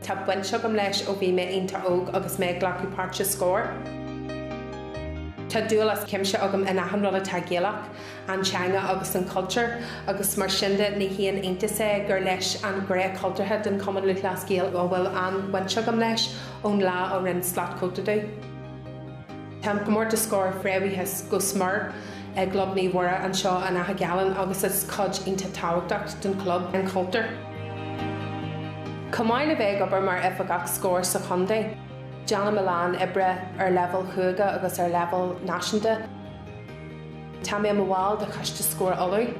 Tá baint agam leis ó bhí mé iontach óg agus mé ag glacadh páirt i Scór. Tá dúil as cuimse agam in achan rud atá Gaelach, an teanga agus an cultúr, agus mar sin de, ní haon iontas é gur leis an gné cultúrtha den Chumann Lúthchleas Gael a bhfuil an bhaint agam leis ón lá ó rinne slat cóta domh. Tá an comórtas Scór fréamhaithe go smior i gClub Naomh Mhuire anseo in Achadh Gallan agus is cuid iontach tábhachtach den chlub an cultúr. Chomh maith le bheith ag obair mar Oifigeach Scór sa chontae, déanaim a lán oibre ar leibhéal chúige agus ar leibhéal náisiúnta. Tá mé i mo bhall de Choiste Scór Uladh.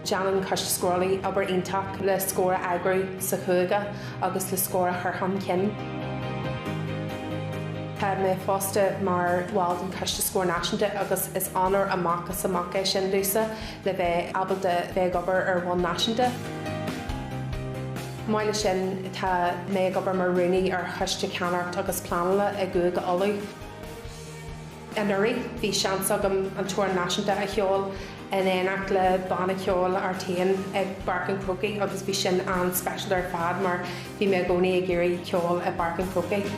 Déanann Coiste Scór Uladh obair iontach le Scór a eagrú sa chúige agus le Scór a chur chun cinn. Tá mé fosta mar bhall den Choiste Scór Náisiúnta agus is onóir amach is amach é sin domhsa le bheith ábalta bheith ag obair ar bhonn náisiúnta. Chomh maith leis sin, tá mé ag obair mar Rúnaí ar Choiste Ceannaireacht agus Pleanála i gCúige Uladh. Anuraidh, bhí seans agam an t-amhrán náisiúnta a cheol in éineacht le banna ceoil Artane i bPáirc an Chrócaigh agus bhí sin an-speisialta ar fad mar bhí mé i gcónaí ag iarraidh ceol i bPáirc an Chrócaigh.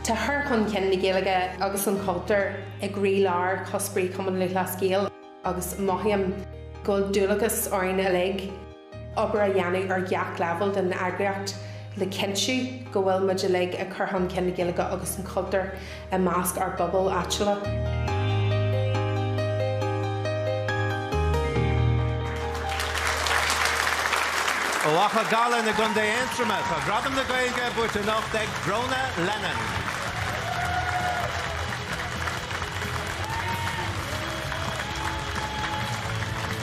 Tá cur chun cinn na Gaeilge agus an chultúir i gcroílár chuspóirí Chumann Lúthchleas Gael agus mothaím go bhfuil dualgas orainn uilig, obair a dhéanamh ar gach leibhéal den eagraíocht le cinntiú go bhfuil muid uilig ag cur chun cinn na Gaeilge agus an chultúir i measc ár bpobail áitiúla. Ó Achadh Gallan i gContae Aontroma, tá Gradam na Gaeilge buaite anocht ag Brónagh Lennon.